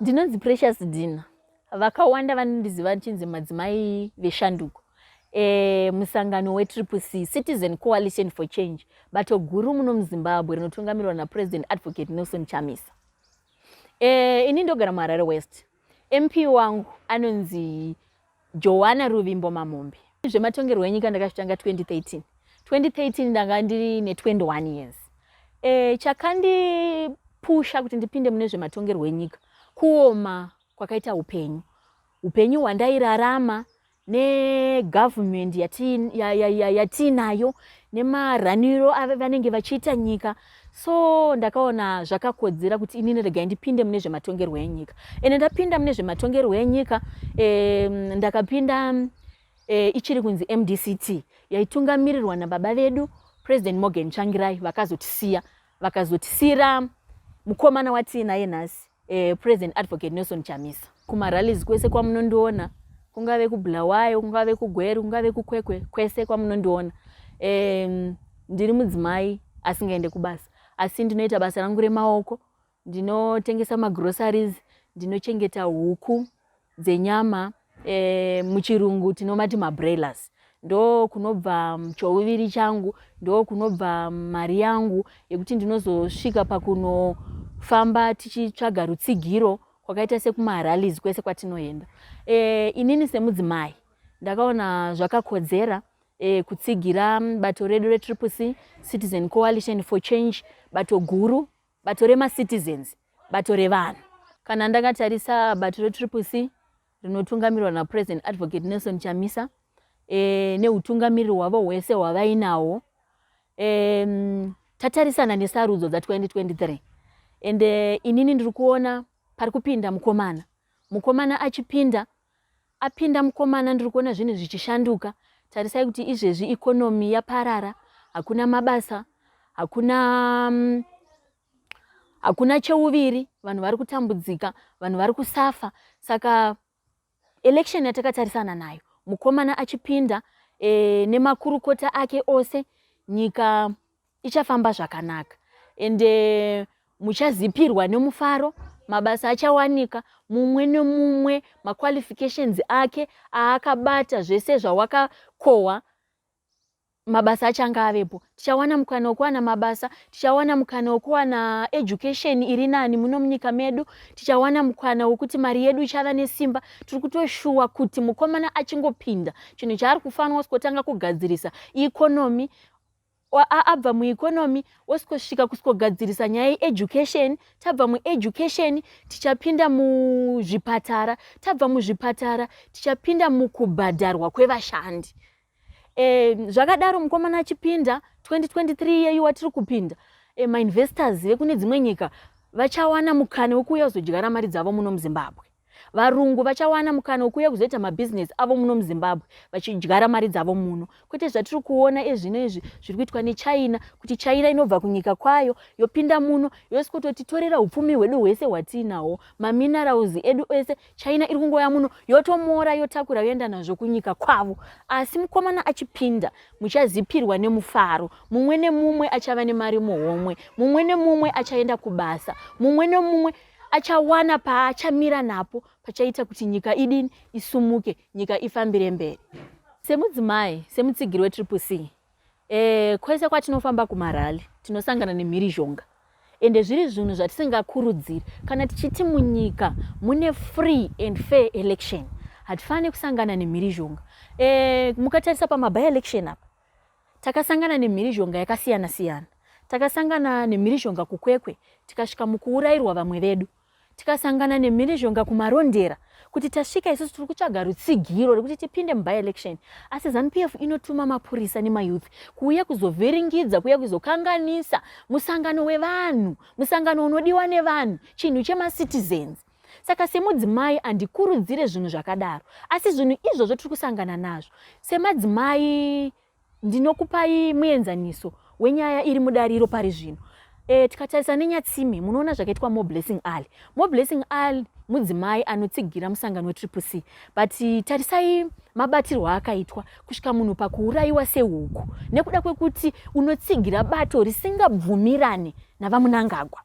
Ndinonzi Precious Dina. Vakawanda vanondiziva ndichinzi madzimai veshanduko. E, musangano wetriple c citizen coalition for change bato guru muno muzimbabwe rinotungamirwa napresident advocate nelson chamisa e, ini ndogara muharare west mp wangu anonzi Joana Ruvimbo Mamombe. Zvematongerwo enyika ndakazvitanga 2013. 2013 ndanga ndiri ne 21 years. E, chakandipusha kuti ndipinde mune zvematongerwo enyika kuoma kwakaita upenyu. Upenyu hwandairarama negovernment yatiinayo ya, ya, ya, nemaraniro avanenge vachiita nyika so ndakaona zvakakodzera kuti inini regai ndipinde mune zvematongerwo enyika ende ndapinda mune zvematongerwo enyika eh, ndakapinda eh, ichiri kunzi mdct yaitungamirirwa nababa vedu president morgan changirai vakazotisiya vakazotisiira mukomana watiinaye nhasi eh, President Advocate Nelson Chamisa. Kumarallies kwese kwamunondiona kungave kuBulawayo, kungave kuGweru, kungave kuKwekwe, kwese kwamunondiona eh, ndiri mudzimai asingaende kubasa asi ndinoita basa rangu remaoko ndinotengesa magroceries ndinochengeta huku dzenyama e, muchirungu tinomati mabroilers ndo kunobva chouviri changu ndo kunobva mari yangu yekuti ndinozosvika pakunofamba tichitsvaga rutsigiro kwakaita sekumaralis kwese kwatinoenda e, inini semudzimai ndakaona zvakakodzera e, kutsigira bato redu retriple c citizen coalition for change bato guru Bato remaCitizens bato revanhu. Kana ndakatarisa bato reTriple C rinotungamirwa naPresident Advocate Nelson Chamisa e, neutungamiriri hwavo hwese hwavainawo e, tatarisana nesarudzo dza2023 and e, inini ndiri kuona pari kupinda mukomana mukomana achipinda Apinda mukomana ndiri kuona zvinhu zvichishanduka tarisai kuti izvezvi economy yaparara hakuna mabasa hakuna mm, hakuna cheuviri vanhu vari kutambudzika vanhu vari kusafa saka election yatakatarisana nayo mukomana achipinda e, nemakurukota ake ose nyika ichafamba zvakanaka ende eh, muchazipirwa nemufaro mabasa achawanika mumwe nemumwe maqualifications ake aakabata zvese zvawakakohwa mabasa achange avepo tichawana mukana wekuwana mabasa tichawana mukana wekuwana education iri nani muno munyika medu tichawana mukana wekuti mari yedu ichava nesimba tiri kutoshuwa kuti mukomana achingopinda chinhu chaari kufanira kutanga kugadzirisa ikonomi abva mueconomy osikosvika kusikogadzirisa nyaya yeeducation tabva mueducation tichapinda muzvipatara tabva muzvipatara tichapinda mukubhadharwa kwevashandi e, zvakadaro mukomana achipinda 2023 yeyu watiri kupinda e, mainvestors vekune dzimwe nyika vachawana mukana wekuuya kuzodyara mari dzavo muno muzimbabwe Varungu vachawana mukana wekuuya kuzoita mabhizinesi avo muno muZimbabwe vachidyara mari dzavo muno, kwete zvatiri kuona ezvino izvi zviri kuitwa neChina, kuti China inobva kunyika kwayo yopinda muno yosikototitorera upfumi hwedu hwese hwatiinahwo, maminerals edu ese China iri kungouya muno yotomora, yotakura yoenda nazvo kunyika kwavo. Asi mukomana achipinda muchazipirwa nemufaro, mumwe nemumwe achava nemari muhomwe, mumwe nemumwe achaenda kubasa, mumwe nemumwe achawana paachamira napo pachaita kuti nyika idini isumuke nyika ifambire mberi semudzimai semutsigiri wetriple c e, kwese kwatinofamba kumarali tinosangana nemhirizhonga ende zviri zvinhu zvatisingakurudziri kana tichiti munyika mune free and fair election hatifaniri kusangana nemhirizhonga e, mukatarisa pamaby election apa Takasangana nemhirizhonga yakasiyana siyana. Takasangana nemhirizhonga kuKwekwe tikasvika mukuurairwa vamwe vedu. Tikasangana nemhirizhonga kuMarondera kuti tasvika isusu tiri kutsvaga rutsigiro rekuti tipinde muby election asi zanupf inotuma mapurisa nemayouth kuuya kuzovhiringidza kuuya kuzokanganisa musangano wevanhu musangano unodiwa nevanhu chinhu chemacitizens Saka semudzimai handikurudzire zvinhu zvakadaro, asi zvinhu izvozvo tiri kusangana nazvo semadzimai, ndinokupai muenzaniso wenyaya iri mudariro pari zvino. E, tikatarisa nenyatsime munoona zvakaitwa more blessing ali more blessing ali mudzimai anotsigira musangano wetriple c but tarisai mabatirwo akaitwa kusvika munhu pakuurayiwa sehuku nekuda kwekuti unotsigira bato risingabvumirane navamunangagwa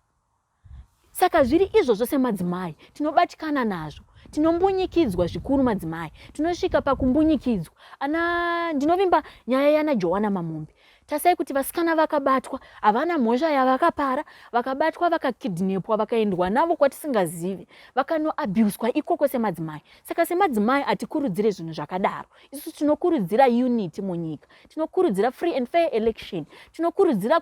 Saka zviri izvozvo semadzimai tinobatikana nazvo tinombunyikidzwa zvikuru madzimai tinosvika pakumbunyikidzwa ana ndinovimba nyaya yana joana mamombe tasai kuti vasikana vakabatwa havana mhosva yavakapara vakabatwa vakakidnepwa vakaendwa navo kwatisingazivi vakanoabuswa ikoko semadzimai saka semadzimai hatikurudzire zvinhu zvakadaro isu tinokurudzira unity munyika tinokurudzira free and fair election tinokurudzira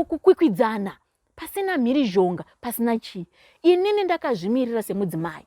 kukwikwidzana pasina mhirizhonga pasina chii inini ndakazvimirira semudzimai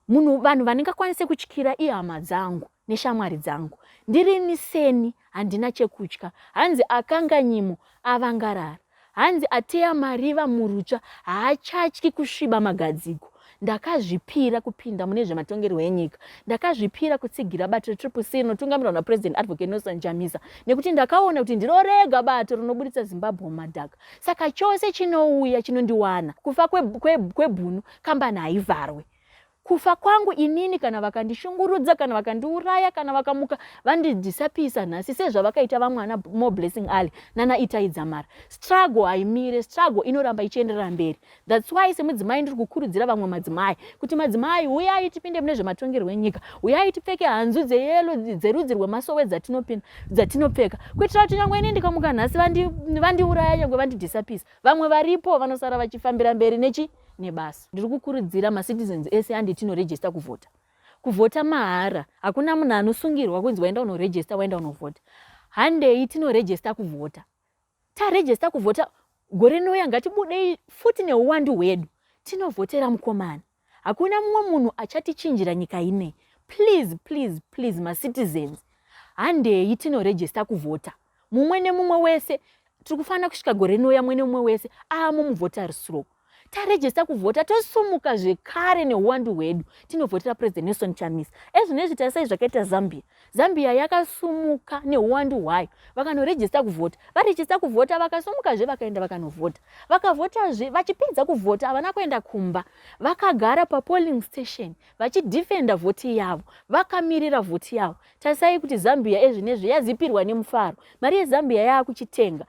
munhu vanhu vandingakwanise kutyira ihama dzangu neshamwari dzangu ndirini seni handina chekutya hanzi akanganyimo avangarara Hanzi ateya mariva murutsva haachatyi kusviba magadziko. Ndakazvipira kupinda mune zvematongerwo enyika. Ndakazvipira kutsigira bato reTriple C rinotungamirwa naPresident Advocate Nelson Chamisa nekuti ndakaona kuti ndiro rega bato rinoburitsa Zimbabwe mumadhaka. Saka chose chinouya chinondiwana. Kufa kwebhunu kambani haivharwe. Kufa kwangu inini kana vakandishungurudza kana vakandiuraya kana vakamuka vandidisapisa nhasi sezvavakaita vamwe ana More Blessing Ali nana Itai Dzamara. Struggle haimire, struggle inoramba ichienderera mberi. That's why semudzimai ndiri kukurudzira vamwe madzimai kuti madzimai huyai tipinde mune zvematongerwo enyika, huyai tipfeke hanzu dzeyelo dzerudzi rwemasowe dzatinopinda dzatinopfeka kuitira kuti nyangwe ini ndikamuka nhasi vandiuraya vandi nyangwe vandidisapisa vamwe varipo vanosara vachifambira mberi nechi nebasa. Ndiri kukurudzira macitizens ese andi tinoregista kuvhota. Kuvhota mahara, hakuna munhu anosungirwa kunzi waenda unoregista, waenda unovhota. Handei tinoregista kuvhota. Taregista kuvhota, gore nouya ngatibudei futi neuwandu hwedu. Tinovhotera mukomana. Hakuna mumwe munhu achatichinjira nyika inei. Please, please, please, macitizens, handei tinoregista kuvhota. mumwe nemumwe wese tiri kufanira kusvika gore rinouya mumwe nemumwe wese aamo muvhota risiro tarejesta kuvhota tosumuka zvekare neuwandu hwedu tinovhotera president nelson chamisa ezvino izvi tarisai zvakaita zambia zambia yakasumuka neuwandu hwayo vakanorejesta kuvhota varejesta kuvhota vakasumukazve vakaenda vakanovhota vakavhotazve vachipedza kuvhota havana kuenda kumba vakagara papolling station vachidefenda vhoti yavo vakamirira vhoti yavo Tarisai kuti Zambia ezvinezvi yazipirwa nemufaro. Mari yeZambia yaakuchitenga.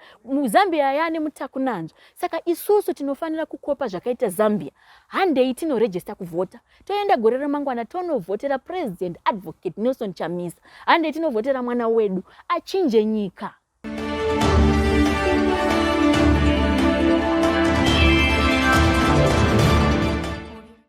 Zambia yaane mutakunanzva. Saka isusu tinofanira kukopa zvakaita Zambia. Handei tinorejesta kuvhota. Toenda gore remangwana tonovhotera President Advocate Nelson Chamisa. Handei tinovhotera mwana wedu achinje nyika.